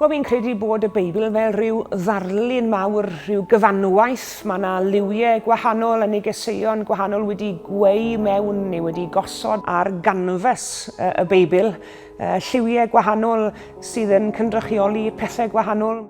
Wel, fi'n credu bod y Beibl fel rhyw ddarlun mawr, rhyw gyfanwaith. Mae yna liwiau gwahanol yn negeseuon gwahanol wedi gweu mewn neu wedi gosod ar ganfas y Beibl. Lliwiau gwahanol sydd yn cynrychioli pethau gwahanol.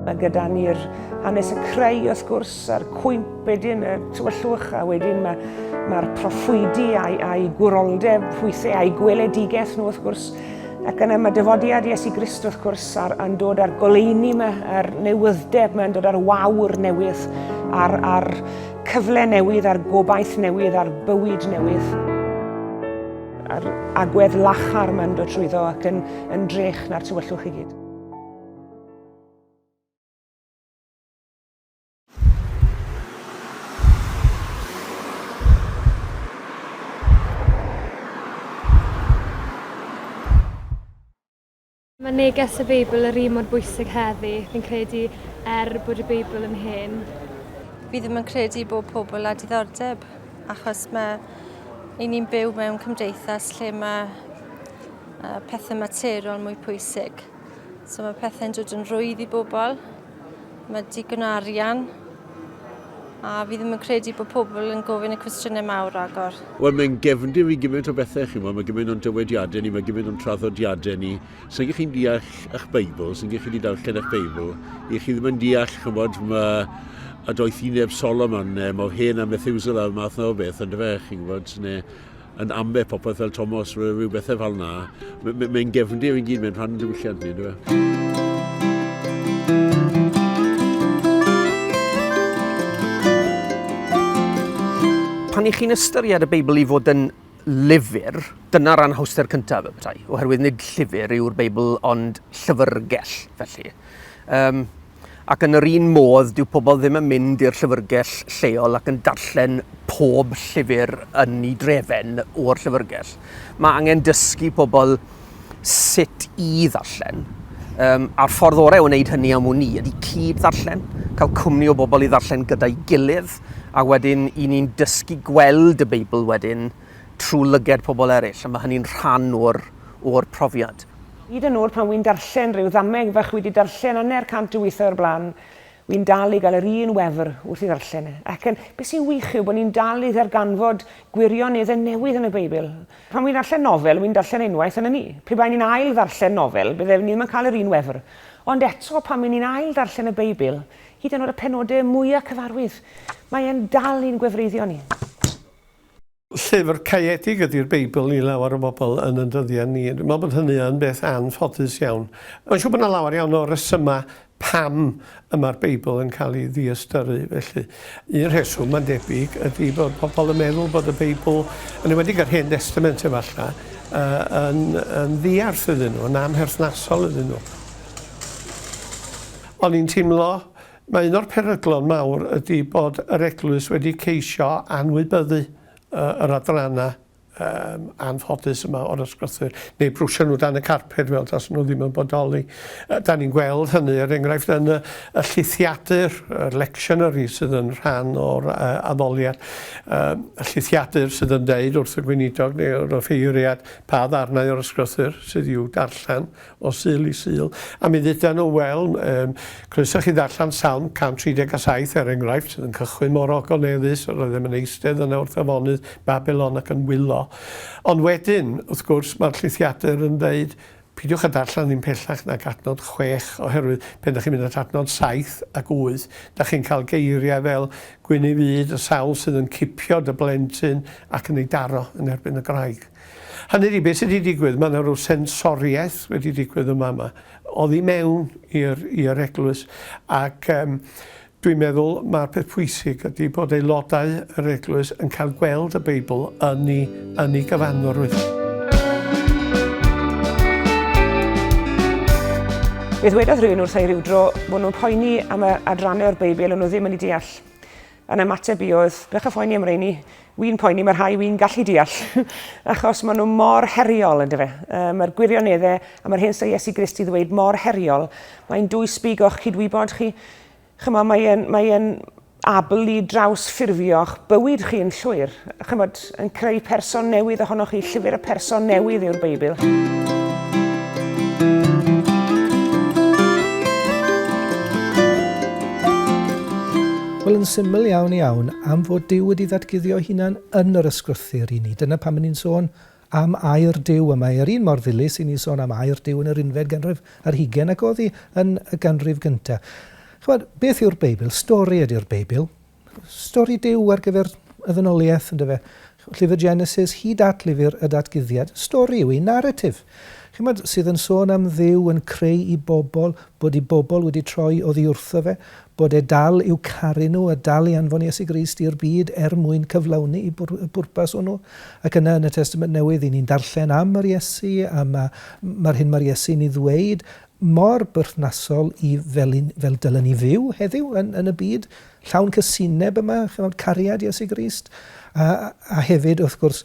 Mae gyda ni'r hanes y creu wrth gwrs a'r cwymp wedyn y tywyllwch a wedyn mae'r mae proffwydi a'i, ai gwroldeb hwythau a'i gweledigaeth nhw wrth gwrs ac yna mae dyfodiad Iesu Grist wrth gwrs ar, yn dod ar goleini yma a'r newyddeb mae'n dod ar wawr newydd a'r, ar cyfle newydd a'r gobaith newydd a'r bywyd newydd a'r agwedd lachar mae'n dod trwyddo ac yn, yn drech na'r tywyllwch i gyd. Mae neges y Beibl yr un mor bwysig heddi, fi'n credu er bod y Beibl yn hen. Fi ddim yn credu bod pobl a diddordeb, achos mae i ni'n byw mewn cymdeithas lle mae pethau materion mwy pwysig. So mae pethau'n dod yn rwydd i bobl. Mae digon o arian. A fi ddim yn credu bod pobl yn gofyn y cwestiynau mawr agor. Wel, mae'n gefndir i gymaint o bethau, chi'n gwybod. Mae gymaint o'n dywediadau ni, mae gymaint o'n traddodiadau ni. Sa'n gych chi'n deall eich Beibl, sa'n gych chi wedi darllen eich Beibl, i chi ddim yn deall, chi'n gwybod, mae a doeth i neb Solomon, neu mae hen a Methuselah, math na o beth, ond fe, chi'n gwybod, neu yn amleth popeth fel Tomos, rhyw bethau fel na. Mae'n gefndir yn gyd, mae'n rhan diwylliant ni, dwi e? pan i chi'n ystyried y Beibl i fod yn lyfr, dyna'r anhawster cyntaf y petai, oherwydd nid llyfr yw'r Beibl ond llyfrgell, felly. Um, Ac yn yr un modd, dyw pobl ddim yn mynd i'r llyfrgell lleol ac yn darllen pob llyfr yn ei drefen o'r llyfrgell. Mae angen dysgu pobl sut i ddarllen. Um, a'r ffordd orau o wneud hynny am wn i ydy cyd ddarllen, cael cwmni o bobl i ddarllen gyda'i gilydd, a wedyn i ni'n dysgu gweld y Beibl wedyn trwy lyged pobl eraill, a mae hynny'n rhan o'r, o'r profiad. Hyd yn oed pan wi'n darllen rhyw ddameg fach wi 'di darllen anner cant o withoedd o'r blaen, wi'n dal i gael yr un wefr wrth ei ddarllen e. Ac yn, be sy'n wych yw bod ni'n dal i ddarganfod gwirioneddau newydd yn y Beibl. Pan wi'n darllen nofel, wi'n darllen e unwaith a 'na ni. Pe baen ni'n ail ddarllen nofel, bydde ni ddim yn cael yr un wefr. Ond eto, pan wi'n ni'n ail ddarllen y Beibl, hyd yn oed y penodau mwya cyfarwydd, mae e'n dal i'n gwefreiddio ni. Llyfr caeedig ydi'r Beibl i lawer o bobl yn yn dyddiau ni. Dwi'n meddwl bod hynny yn beth anffodus iawn. Mae'n siŵr bod 'na lawer iawn o resymau pam y mae'r Beibl yn cael ei ddiystyru felly. Un rheswm, mae'n debyg, ydi bod pobl yn meddwl bod y Beibl, yn enwedig yr Hen Destament efallai, yy yn yn ddiarth iddyn nhw, yn amherthnasol iddyn nhw. O'n i'n teimlo Mae un o'r peryglon mawr ydy bod yr Eglwys wedi ceisio anwybyddu yr adrannau um, anffodus yma o'r ysgrythur, neu brwsio nhw dan y carped fel tas nhw ddim yn bodoli. Da ni'n gweld hynny, er enghraifft, yn y, y llithiadur, y lectionary sydd yn rhan o'r uh, addoliad, um, y llithiadur sydd yn deud wrth y gweinidog neu wrth y ffeiriad pa ddarnau o'r ysgrythur sydd i'w darllen o Sul i Sul, a mi dduda nhw, wel, um, croeso chi ddarllen Salm 137, er enghraifft, sydd yn cychwyn mor ogoneddus, yr oeddem yn eistedd yna wrth afonydd Babylon ac yn wylo. Ond wedyn, wrth gwrs, mae'r llithiadur yn dweud, pidiwch a darllen ddim pellach nag adnod chwech, oherwydd pen da chi'n mynd at adnod saith ac wyth, da chi'n cael geiriau fel gwyn ei fyd, y sawl sydd yn cipio dy blentyn ac yn ei daro yn erbyn y graig. Hynny ydi, beth sydd wedi digwydd, mae yna rhyw sensoriaeth wedi digwydd yma yma, oddi mewn i'r eglwys, ac um, dwi'n meddwl mae'r peth pwysig ydy bod aelodau yr eglwys yn cael gweld y Beibl yn ei, yn ei gyfanrwydd. Fe ddwedodd rhywun wrthai rhyw dro bod nhw'n poeni am y adrannau o'r Beibl o'n nhw ddim yn ei deall. Yn ymateb i oedd, bech o phoeni am reini. Wy'n poeni, mae rhai wy'n gallu deall, achos maen nhw mor heriol, ynddo fe. Uh, mae'r gwirioneddau a mae'r hyn sy'n Iesu Grist i ddweud mor heriol. Mae'n dwy sbig o'ch cydwybod chi. Chymod, mae'n mae abl i draws ffurfio'ch bywyd chi yn llwyr. Chymod, Yn creu person newydd ohonoch chi. Llyfr y person newydd yw'r Beibl. Wel, yn syml iawn iawn, am fod Dyw wedi ddatguddio hunan yn yr ysgrythyr i ni. Dyna pam ni'n sôn am air Dyw yma. Yr un mor ddilys i ni sôn am air Dyw yn yr unfed ganrif ar hugen ac oddi yn y ganrif gyntaf. Chymod, beth yw'r Beibl? Stori ydy'r Beibl. Stori Duw ar gyfer y ddynoliaeth, yn dyfe? Llyfr Genesis hyd at lyfr y Datguddiad, stori yw hi, naratif, chymod, sydd yn sôn am Dduw yn creu i bobl, bod i bobl wedi troi oddi wrtho fe, bod e dal i'w caru nhw a dal i anfon Iesu Grist i'r byd er mwyn cyflawni y pwrpas hwnnw. Ac yna yn y Testament Newydd, i ni'n darllen am yr Iesu, a mae'r hyn mae'r Iesu'n ei ddweud mor berthnasol i fel i fel dylen ni fyw heddiw yn yn y byd llawn cysineb yma ch'mod cariad Iesu Grist a a hefyd wrth gwrs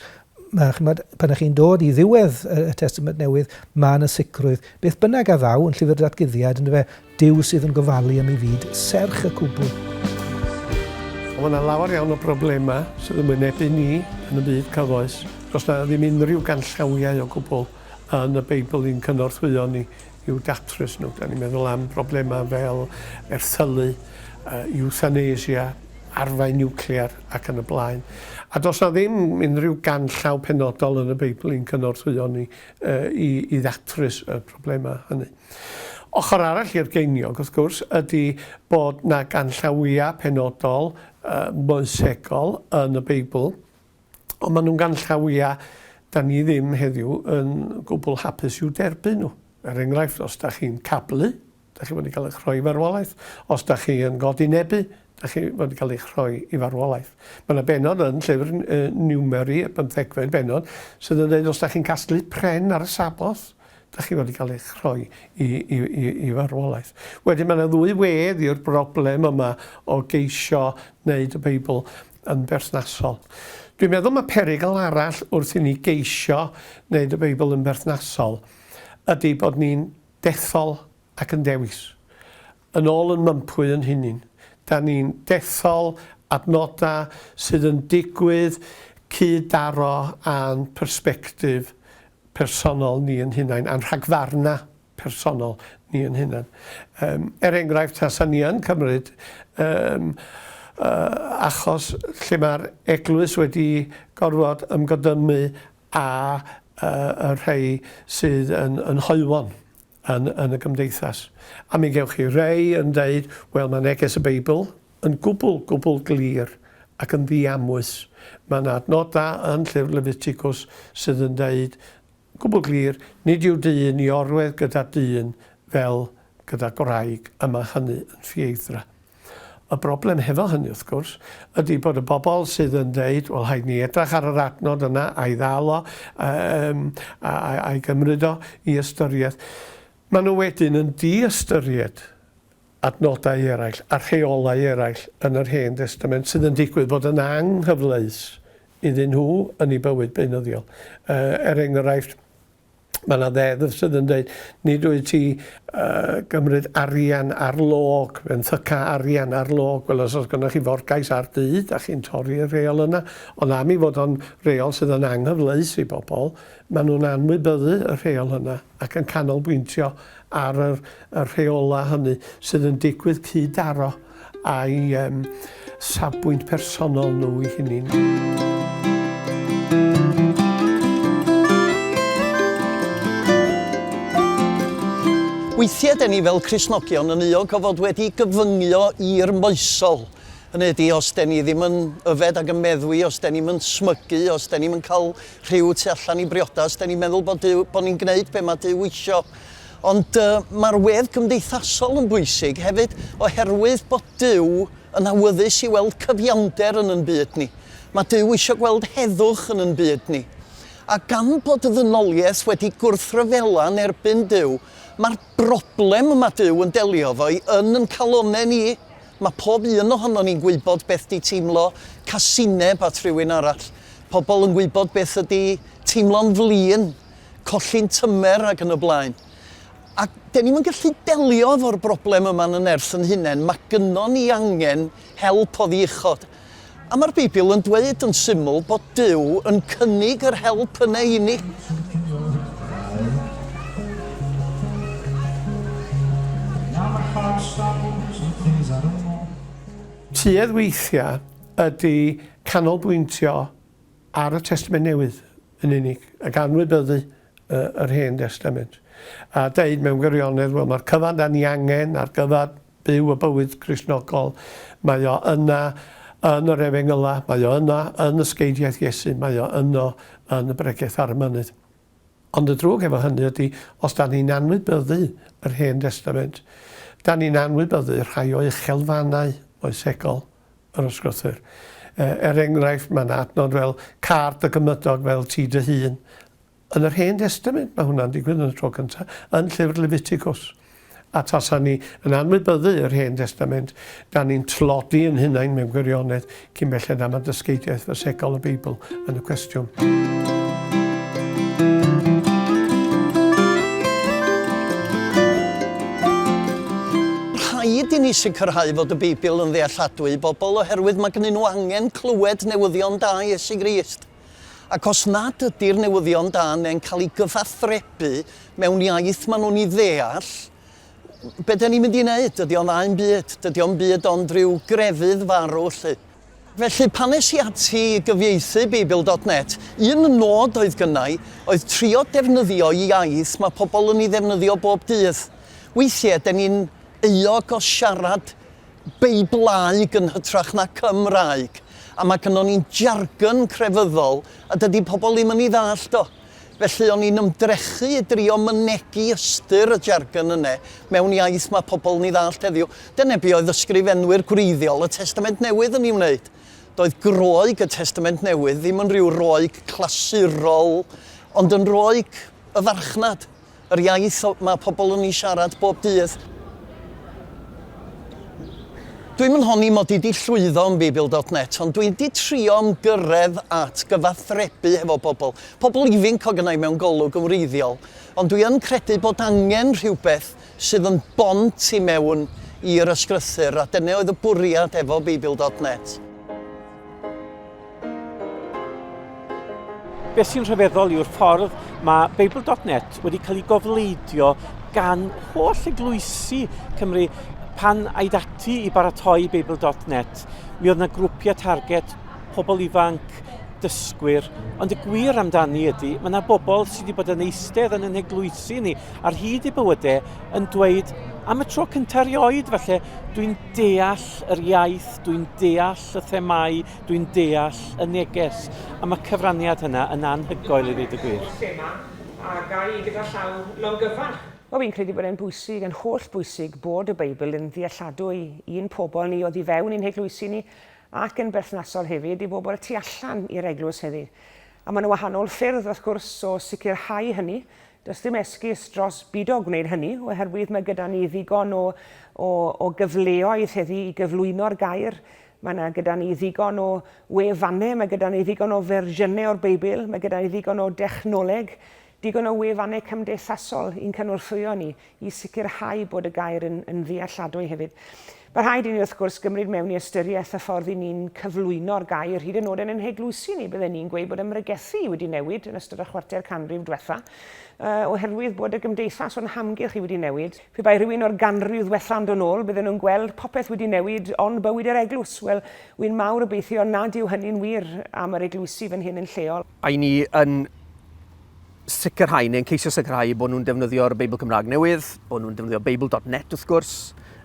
ma' ch'mod pan ych chi'n dod i ddiwedd y, y Testament Newydd mae yna sicrwydd beth bynnag a ddaw yn llyfr datguddiad yndyfe Duw sydd yn gofalu am ei fyd serch y cwbl. Ond mae yna lawer iawn o broblemau sydd yn wynebu ni yn y byd cyfoes. Does yna ddim unrhyw ganllawiau o gwbl yn y Beibl i'n cynorthwyo ni i'w datrys nhw. Da ni'n meddwl am broblemau fel erthylu, iwthanesia, arfau niwclear ac yn y blaen. A does na ddim unrhyw ganllaw penodol yn y Beibl i'n cynorthwyo ni i, i ddatrys y problemau hynny. Ochr arall i'r geiniog, wrth gwrs, ydy bod na ganllawiau penodol uh, moesegol yn y Beibl Ond maen nhw'n ganllawiau da ni ddim heddiw yn gwbl hapus i'w derbyn nhw. Er enghraifft, os da chi'n cablu, da chi fod i gael eich rhoi i farwolaeth. Os da chi yn godi nebu, da chi fod i gael eich rhoi i farwolaeth. Mae yna benod yn llyfr Niwmeri, y bymthegfed benod, sydd yn dweud os da chi'n casglu pren ar y Sabboth, da chi fod i gael eich rhoi i, i, i, i farwolaeth. Wedyn mae yna ddwy wedd i'r broblem yma o geisio wneud y Beibl yn berthnasol. Dwi'n meddwl mae perygl arall wrth i ni geisio wneud y Beibl yn berthnasol ydy bod ni'n dethol ac yn dewis. Yn ôl yn mympwy yn hunin. Da ni'n dethol adnodau sydd yn digwydd cyd-daro â'n persbectif personol ni yn hunain, a'n rhagfarnau. personol ni yn hunan. Yym, er enghraifft, tasa ni yn cymryd yym yy achos lle mae'r eglwys wedi gorfod ymgodymu â yy y rhei sydd yn yn hoywon yn yn y gymdeithas. A mi gewch chi rei yn deud, wel, mae neges y Beibl yn gwbl, gwbl glir ac yn ddiamwys. Mae 'na adnodau yn llyfr Lefiticws sydd yn deud Gwbl glir, nid yw dyn i orwedd gyda dyn fel gyda gwraig y mae hynny yn ffieithdra. Y broblem hefo hynny, wrth gwrs, ydy bod y bobl sydd yn deud, wel rhaid ni edrach ar yr adnod yna a'i ddal o, yym, a, a, a'i gymryd o i ystyriaeth, maen nhw wedyn yn di-ystyried adnodau eraill a rheolau eraill yn yr Hen Destament sydd yn digwydd bod yn anghyfleus iddyn nhw yn eu bywyd beunyddiol. Er enghraifft, mae yna ddeddf sydd yn dweud, nid wyt ti uh, gymryd arian ar log, fe'n thyca arian ar log, wel os oes gennych chi forgais ar dŷ, da chi'n torri'r reol yna, ond am i fod o'n reol sydd yn anghyfleus i bobl, maen nhw'n anwybyddu y rheol yna. ac yn canolbwyntio ar yr, y rheolau hynny sydd yn digwydd cyd-daro â'i um, safbwynt personol nhw i hynny. Weithiau dyn ni fel Cresnogion yn uog o fod wedi gyfyngio i'r moesol. Yn ydy, os dyn ni ddim yn yfed ac yn meddwi, os dyn ni'n smygu, os dyn ni'n cael Rhyw tu allan i briodas, dan ni'n meddwl bod Duw, bod ni'n gwneud be mae Duw isio. Ond uh, mae'r wedd gymdeithasol yn bwysig hefyd, oherwydd bod Duw yn awyddus i weld cyfiawnder yn yn byd ni. Mae Duw eisiau gweld heddwch yn yn byd ni. A gan bod y ddynoliaeth wedi gwrthryfela yn erbyn Duw, mae'r broblem mae Duw yn delio fo'i yn yn calonau ni Mae pob un ohonon ni'n gwybod beth 'di teimlo casineb at rywun arall. Pobl yn gwybod beth ydi teimlo'n flin, colli'n tymer ac yn y blaen. A 'den ni'm yn gallu delio efo'r broblem yma'n y nerth yn hunain. Mae gynnon ni angen help oddi uchod. A mae'r Beibl yn dweud yn syml bod Duw yn cynnig yr help yna i ni. Tuedd weithiau ydy canolbwyntio ar y Testament Newydd. yn unig, ac anwybyddu y, yr Hen Destament, a deud mewn gwirionedd, wel, mae'r cyfan da ni angen ar gyfer byw y bywyd Gristnogol, mae o yna yn yr Efengyla, mae o yna yn ysgeidiaeth Iesu, mae o yno yn y bregeth ar y mynydd. Ond y drwg efo hynny ydy, os da ni'n anwybyddu yr Hen Destament, da ni'n anwybyddu rhai o uchelfannau moesegol. yr ysgrythur. Er enghraifft, mae yna adnod fel car dy gymydog fel ti dy hun. Yn yr Hen Destament, mae hwnna'n digwydd yn y tro cyntaf, yn llyfr Leviticus. A tasa ni yn anwybyddu yr Hen Destament, da ni'n tlodi yn hunain mewn gwirionedd cyn belled am y dysgeidiaeth fasegol y Beibl yn y cwestiwn. Rhaid i ni sicrhau fod y Beibl yn ddealladwy i bobl oherwydd mae gennyn nhw angen clywed newyddion da Iesu Grist. Ac os nad ydy'r newyddion da neu'n cael ei gyfathrebu mewn iaith maen nhw'n ei ddeall, be da ni'n mynd i wneud? Dydy o'n ddau'n byd, dydy o'n byd ond rhyw grefydd farw lle. Felly, pan es i ati i gyfieithu Beibl dot net, un nod oedd gynnau oedd trio defnyddio iaith mae pobl yn ei ddefnyddio bob dydd. Weithiau, de ni'n euog o siarad Beiblaeg yn hytrach na Cymraeg, a mae gynnon ni'n jargon crefyddol a dydy pobl ddim yn ei ddallt o. Felly o'n i'n ymdrechu i drio mynegi ystyr y jargon yne mewn iaith mae pobl yn ei ddallt heddiw. Dyna be oedd ysgrifenwyr gwreiddiol y Testament Newydd yn ei wneud. Doedd Groeg y Testament Newydd ddim yn rhyw Roeg clasurol, ond yn Roeg y farchnad. Yr iaith mae pobl yn ei siarad bob dydd. Dwi'm yn honni mod i 'di llwyddo yn Beibl dot net, ond dwi 'di trio ymgyrredd at gyfathrebu hefo pobl, pobl ifinc o gynnau mewn golwg yn wreiddiol, ond dwi yn credu bod angen rhywbeth sydd yn bont i mewn i'r ysgrythur, a dyne oedd y bwriad efo Beibl dot net. Beth sy'n rhyfeddol yw'r ffordd mae Babel.net wedi cael ei gofleidio gan holl eglwysi Cymru pan aid ati i baratoi Babel.net. Mi oedd yna grwpiau target, pobl ifanc, dysgwyr, ond y gwir amdani ydy, mae yna bobl sydd wedi bod yn eistedd yn yn eglwysi ni ar hyd i bywydau yn dweud am y tro cyntaf erioed, falle dwi'n deall yr iaith, dwi'n deall holl y themâu dwi'n deall y neges am y cyfraniad hynna yn anhygoel i ddweud y gwir. Holl thema a ga i gyda llaw longyfarch. Wel fi'n credu bod e'n bwysig, yn holl bwysig bod y Beibl yn ddealladwy i'n pobl ni oddi fewn i'n heglwysi ni ac yn berthnasol hefyd i bobl tu allan i'r eglwys heddi. A mae 'na wahanol ffyrdd wrth gwrs o sicrhau hynny, Does dim esgus dros bido gwneud hynny, oherwydd mae gyda ni ddigon o, o, o gyfleoedd heddi i gyflwyno'r gair. Mae yna gyda ni ddigon o wefannau, mae gyda ni ddigon o fersiynau o'r Beibl, mae gyda ni ddigon o dechnoleg, digon o wefannau cymdeithasol i'n cynorthwyo ni i sicrhau bod y gair yn, yn ddealladwy hefyd. Mae rhaid i ni, wrth gwrs, gymryd mewn i ystyriaeth y ffordd i ni'n cyflwyno'r gair, hyd yn oed yn ein heglwysi ni, bydden ni'n gweud bod ymrygethu wedi newid yn ystod y chwarter canrif diwetha, uh, oherwydd bod y gymdeithas o'n hamgylch i wedi newid. Pe bai rhywun o'r ganrif ddiwetha yn dod ôl, bydden nhw'n gweld popeth wedi newid ond bywyd yr eglwys. Wel, wy'n mawr obeithio nad yw hynny'n wir am yr eglwysi fan hyn yn lleol. I ni yn sicrhau, neu'n ceisio sicrhau bod nhw'n defnyddio'r Beibl Cymraeg newydd, bod nhw'n defnyddio Beibl dot net wrth gwrs,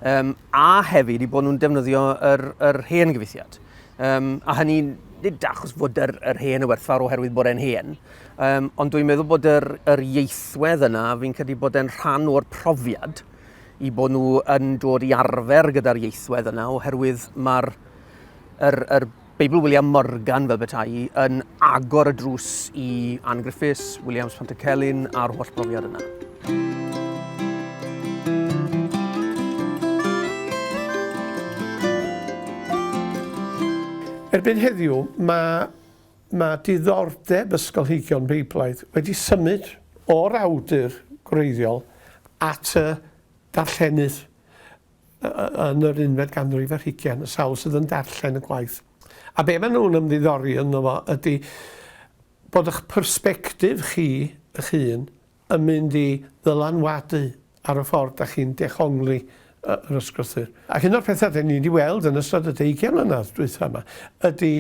um, a hefyd i bod nhw'n defnyddio yr, yr hen gyfeithiad. Um, a hynny, nid achos fod yr, yr hen y werthfawr oherwydd bod e'n hen, um, ond dwi'n meddwl bod yr, yr ieithwedd yna, fi'n credu bod e'n rhan o'r profiad i bod nhw yn dod i arfer gyda'r ieithwedd yna, oherwydd mae'r yr, yr Beibl William Morgan, fel beta'i, yn agor y drws i Ann Griffiths, Williams Pantycelyn a'r holl brofiad yna. Erbyn heddiw, mae, mae diddordeb ysgolheigion Beiblaidd wedi symud o'r awdur gwreiddiol at y darllenydd. yn yr unfed ganrif ar hugain, y sawl sydd yn darllen y gwaith. A be maen nhw'n ymddiddori ynddo fo ydy bod eich persbectif chi eich hun yn mynd i ddylanwadu ar y ffordd da chi'n dehongli yr ysgrythur. Ac un o'r pethau da ni wedi weld yn ystod y deugain mlynedd dwytha yma ydy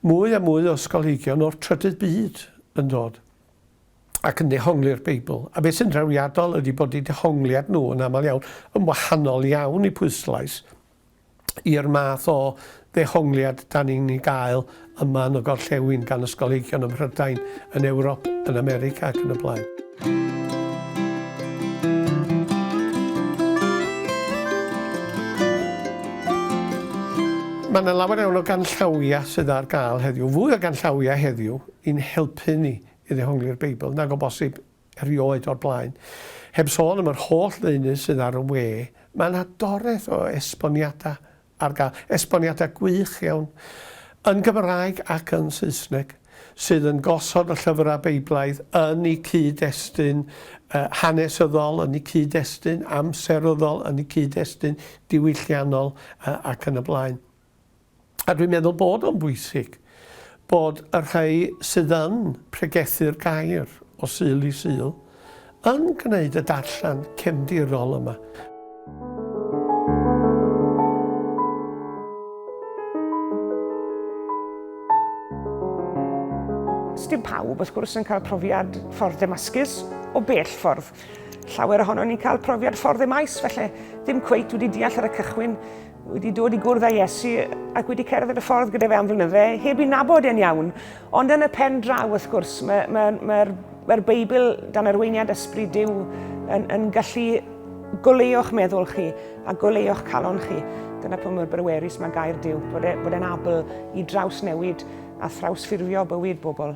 mwy a mwy o ysgolheigion o'r trydydd byd yn dod ac yn dehongli'r Beibl, a beth sy'n drawiadol ydy bod eu dehongliad nhw yn aml iawn yn wahanol iawn i pwyslais i'r math o ddehongliad dan ni'n ei gael yma yn y gorllewin gan ysgolheigion ym Mhrydain, yn Ewrop, yn America ac yn y blaen. Mae yna lawer iawn o ganllawiau sydd ar gael heddiw, fwy o ganllawiau heddiw i'n helpu ni i ddehongli'r Beibl nag o bosib erioed o'r blaen, heb sôn am yr holl ddeunydd sydd ar y we, mae 'na doreth o esboniadau ar gael, esboniadau gwych iawn, yn Gymraeg ac yn Saesneg, sydd yn gosod y llyfrau Beiblaidd yn eu cyd-destun hanesyddol, yn eu cyd-destun amseryddol, yn eu cyd-destun diwylliannol ac yn y blaen. A dwi'n meddwl bod o'n bwysig bod y rhai sydd yn pregethu'r gair o Sul i Sul yn gwneud y darllen cefndirol yma. Dim pawb, wrth gwrs, yn cael profiad ffordd Demascus o bell ffordd. Llawer ohono ni'n cael profiad ffordd e maes, felly ddim cweit wedi deall ar y cychwyn wedi dod i gwrdd â Iesu ac wedi cerdded y ffordd gyda fe am flynydde, heb i nabod e'n iawn. Ond yn y pen draw, wrth gwrs, mae'r mae, mae, mae, mae Beibl dan arweiniad ysbryd Dyw yn, yn gallu goleuo'ch meddwl chi a goleuo'ch calon chi. Dyna pwy mor brywerus mae gair Dyw, bod, e, bod e'n abl i draws newid a thrawsffurfio bywyd bobl.